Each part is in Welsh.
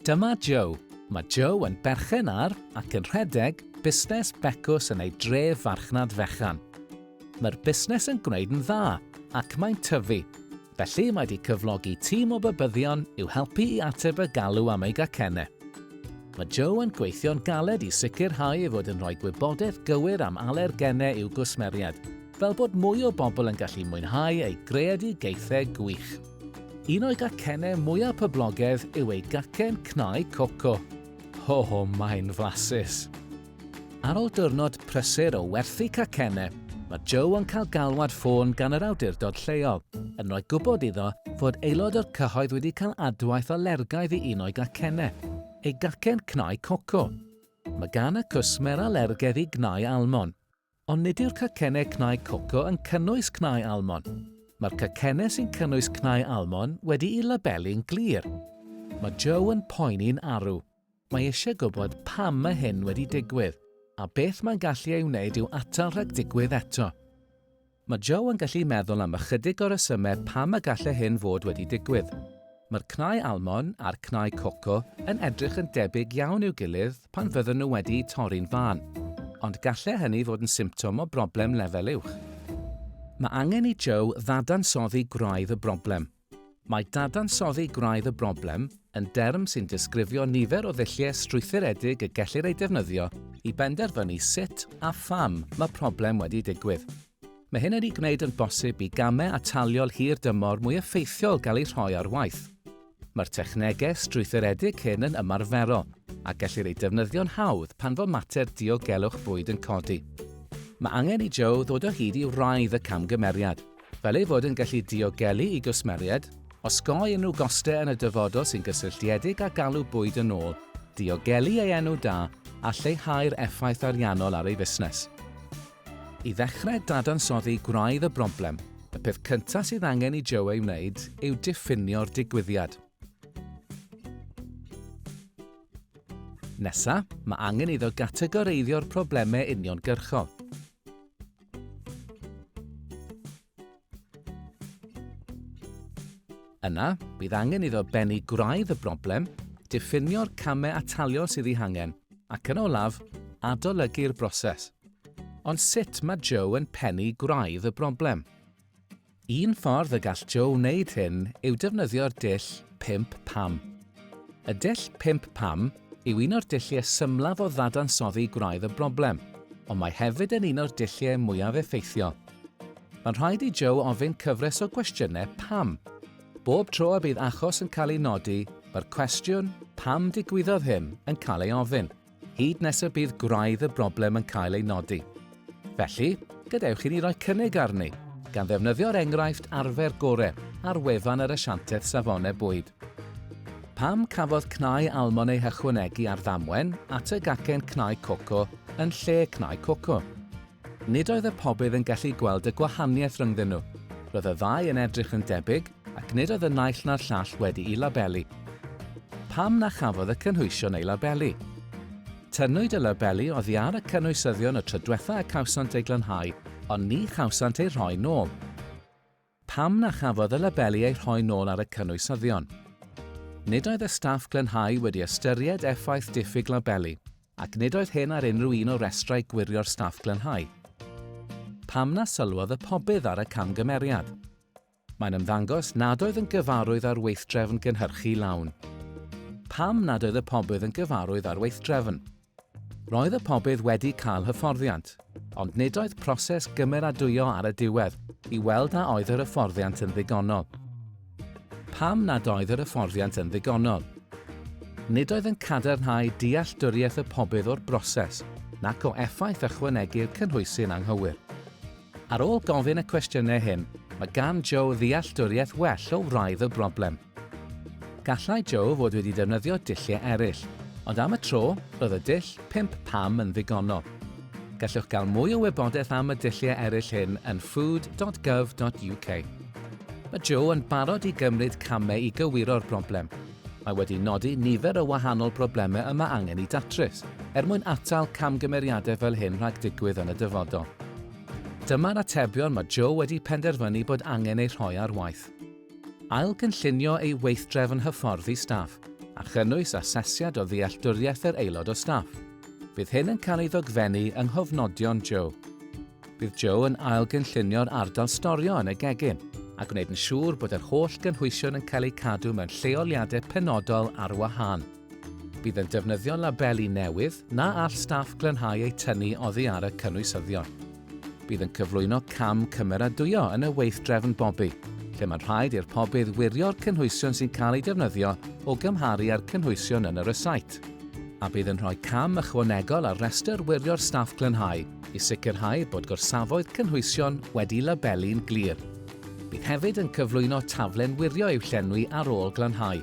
Dyma Joe. Mae Joe yn berchen ar ac yn rhedeg busnes becws yn ei dref farchnad fechan. Mae'r busnes yn gwneud yn dda ac mae'n tyfu, felly mae wedi cyflogi tîm o bybyddion i'w helpu i ateb y galw am ei gacennau. Mae Joe yn gweithio'n galed i sicrhau ei fod yn rhoi gwybodaeth gywir am alergenau i'w gwsmeriaid, fel bod mwy o bobl yn gallu mwynhau eu greadigaethau gwych. Un o'i gacennau mwyaf poblogedd yw ei gacen cnau coco. Ho ho, mae'n flasus! Ar ôl diwrnod prysur o werthu cacennau, mae Joe yn cael galwad ffôn gan yr awdurdod lleol, yn rhoi gwybod iddo fod aelod o'r cyhoedd wedi cael adwaith alergaidd i un o'i gacennau, ei gacen cnau coco. Mae gan y cwsmer alergedd i gnau almon. Ond nid yw'r cacennau cnau coco yn cynnwys cnau almon. Mae'r cacennau sy'n cynnwys cnau almon wedi'u labelu'n glir. Mae Joe yn poeni'n arw. Mae eisiau gwybod pam mae hyn wedi digwydd, a beth mae'n gallu ei wneud i'w atal rhag digwydd eto. Mae Joe yn gallu meddwl am ychydig o resymau pam y gallai hyn fod wedi digwydd. Mae'r cnau almon a'r cnau coco yn edrych yn debyg iawn i'w gilydd pan fydden nhw wedi'u torri'n fân, ond gallai hynny fod yn symptom o broblem lefel uwch. Mae angen i Joe ddadansoddi gwraidd y broblem. Mae dadansoddi gwraidd y broblem yn derm sy'n disgrifio nifer o ddulliau strwythuredig y gellir eu defnyddio i benderfynu sut a pham mae problem wedi digwydd. Mae hyn wedi gwneud yn bosib i gamau ataliol hir dymor mwy effeithiol gael eu rhoi ar waith. Mae'r technegau strwythuredig hyn yn ymarferol a gellir eu defnyddio'n hawdd pan fo mater diogelwch bwyd yn codi. Mae angen i Joe ddod o hyd i wraidd y camgymeriad, fel ei fod yn gallu diogelu i gwsmeriaid, osgoi unrhyw gostau yn y dyfodol sy'n gysylltiedig â galw bwyd yn ôl, diogelu ei enw da a lleihau'r effaith ariannol ar ei fusnes. I ddechrau dadansoddi gwraidd y broblem, y peth cyntaf sydd angen i Joe ei wneud yw diffinio'r digwyddiad. Nesa, mae angen iddo gategoreiddio'r problemau uniongyrchol. Yna, bydd angen iddo bennu gwraidd y broblem, diffinio'r camau ataliol sydd ei hangen, ac yn olaf, adolygu'r broses. Ond sut mae Joe yn pennu gwraidd y broblem? Un ffordd y gall Joe wneud hyn yw defnyddio'r dull 'pump pam'. Y dull 'pump pam' yw un o'r dulliau symlaf o ddadansoddi gwraidd y broblem, ond mae hefyd yn un o'r dulliau mwyaf effeithiol. Mae'n rhaid i Joe ofyn cyfres o gwestiynau 'pam'. Bob tro y bydd achos yn cael ei nodi, mae'r cwestiwn 'pam digwyddodd hyn' yn cael ei ofyn. hyd nes y bydd gwraidd y broblem yn cael ei nodi. Felly, gadewch i ni roi cynnig arni, gan ddefnyddio'r enghraifft arfer gore ar wefan yr Asiantaeth Safonau Bwyd. Pam cafodd cnau almon ei hychwanegu ar ddamwen at y gacen cnau coco yn lle cnau coco? Nid oedd y pobydd yn gallu gweld y gwahaniaeth rhyngddyn nhw. Roedd y ddau yn edrych yn debyg, ac nid oedd y naill na'r llall wedi'i labelu. Pam na chafodd y cynhwysion eu labelu? Tynnwyd y labelu oddi ar y cynwysyddion y tro diwetha' y cawsant eu glanhau, ond ni chawsant eu rhoi nôl. Pam na chafodd y labeli eu rhoi nôl ar y cynwysyddion? Nid oedd y staff glanhau wedi ystyried effaith diffyg labeli ac nid oedd hyn ar unrhyw un o restrau gwirio'r staff glanhau. Pam na sylwodd y pobydd ar y camgymeriad? Mae'n ymddangos nad oedd yn gyfarwydd â'r weithdrefn gynhyrchu lawn. Pam nad oedd y pobydd yn gyfarwydd â'r weithdrefn? Roedd y pobydd wedi cael hyfforddiant, ond nid oedd proses gymeradwyo ar y diwedd i weld a oedd yr hyfforddiant yn ddigonol. Pam nad oedd yr hyfforddiant yn ddigonol? Nid oedd yn cadarnhau dealltwriaeth y pobydd o'r broses nac o effaith ychwanegu'r cynhwysy'n anghywir. Ar ôl gofyn y cwestiynau hyn, mae gan Joe ddealltwriaeth well o wraidd y broblem. Gallai Joe fod wedi defnyddio dulliau eraill, ond am y tro, roedd y dull 5 pam yn ddigonol. Gallwch gael mwy o wybodaeth am y dulliau eraill hyn yn food.gov.uk. Mae Joe yn barod i gymryd camau i gywiro'r broblem. Mae wedi nodi nifer o wahanol broblemau y mae angen i datrys, er mwyn atal camgymeriadau fel hyn rhag digwydd yn y dyfodol. Dyma'r atebion mae Joe wedi penderfynu bod angen eu rhoi ar waith. Ail-gynllunio ei weithdrefn hyfforddi staff, a chynnwys asesiad o ddealltwriaeth yr aelod o staff. Bydd hyn yn cael ei ddogfennu yng nghofnodion Joe. Bydd Joe yn ail-gynllunio'r ardal storio yn y gegin, a gwneud yn siŵr bod yr holl gynhwysion yn cael eu cadw mewn lleoliadau penodol ar wahân. Bydd yn defnyddio labeli newydd na all staff glanhau eu tynnu oddi ar y cynwysyddion. Bydd yn cyflwyno cam cymeradwyo yn y weithdrefn bobi, lle mae'n rhaid i'r pobydd wirio'r cynhwysion sy'n cael eu defnyddio o gymharu â'r cynhwysion yn y rysait a bydd yn rhoi cam ychwanegol ar restr wirio'r staff glanhau i sicrhau bod gorsafoedd cynhwysion wedi labelu'n glir. Bydd hefyd yn cyflwyno taflen wirio i'w llenwi ar ôl glanhau.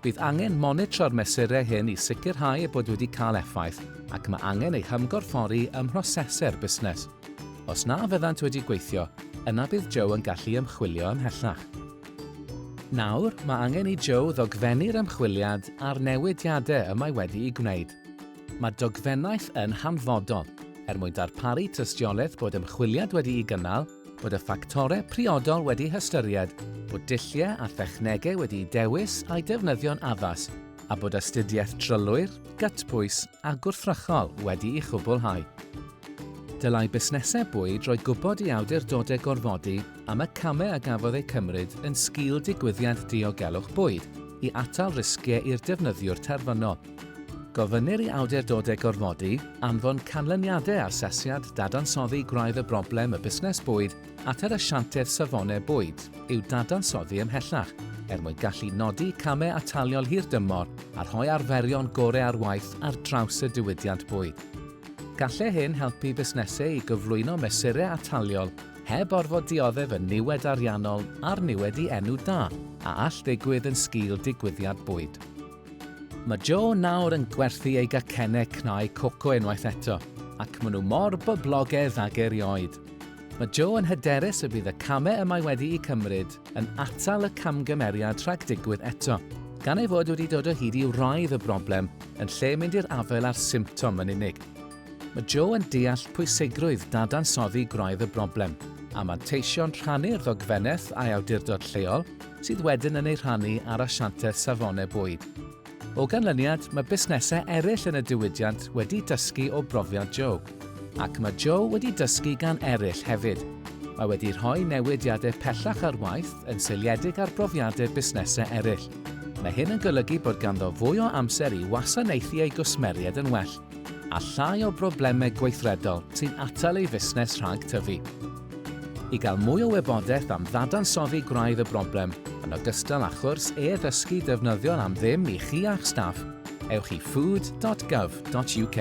Bydd angen monitro'r mesurau hyn i sicrhau eu bod wedi cael effaith ac mae angen eu hymgorffori ym mhrosesau'r busnes. Os na fyddant wedi gweithio, yna bydd Joe yn gallu ymchwilio ymhellach. Nawr, mae angen i Joe ddogfennu'r ymchwiliad a'r newidiadau y mae wedi'u gwneud. Mae dogfennaeth yn hanfodol er mwyn darparu tystiolaeth bod ymchwiliad wedi'i gynnal, bod y ffactorau priodol wedi hystyried, bod dulliau a thechnegau wedi'u dewis a'u defnyddio'n addas, a bod astudiaeth drylwyr, gytbwys a gwrthrychol wedi'i chwblhau. Dylai busnesau bwyd roi gwybod i awdurdodau gorfodi am y camau a gafodd eu cymryd yn sgil digwyddiad diogelwch bwyd i atal risgiau i'r defnyddiwr terfynol, Gofynnir i awdurdodau gorfodi anfon canlyniadau asesiad dadansoddi gwraidd y broblem y busnes bwyd at yr Asiantaeth Safonau Bwyd i'w dadansoddi ymhellach er mwyn gallu nodi camau ataliol hirdymor a rhoi arferion gorau ar waith ar draws y diwydiant bwyd. Gallai hyn helpu busnesau i gyflwyno mesurau ataliol heb orfod dioddef y niwed ariannol a'r niwed i enw da a all ddigwydd yn sgil digwyddiad bwyd. Mae Jo nawr yn gwerthu ei gacennau cnau coco unwaith eto, ac maen nhw mor boblogaidd ag erioed. Mae Jo yn hyderus y bydd y camau y mae wedi'u cymryd yn atal y camgymeriad rhag digwydd eto, gan ei fod wedi dod o hyd i wraidd y broblem yn lle mynd i'r afael â'r symptom yn unig. Mae Jo yn deall pwysigrwydd dadansoddi gwraidd y broblem, a manteision rhannu'r ddogfennaeth â'i awdurdod lleol, sydd wedyn yn ei rhannu â'r asianteth safone bwyd. O ganlyniad, mae busnesau eraill yn y diwydiant wedi dysgu o brofiad Joe. Ac mae Joe wedi dysgu gan eraill hefyd. Mae wedi rhoi newidiadau pellach ar waith yn seiliedig ar brofiadau busnesau eraill. Mae hyn yn golygu bod ganddo fwy o amser i wasanaethu ei gwsmeriaid yn well. a llai o broblemau gweithredol sy'n atal ei fusnes rhag tyfu. I gael mwy o wybodaeth am ddadansoddi gwraidd y broblem, yn ogystal â chwrs e-ddysgu defnyddiol am ddim i chi a'ch staff, ewch i food.gov.uk.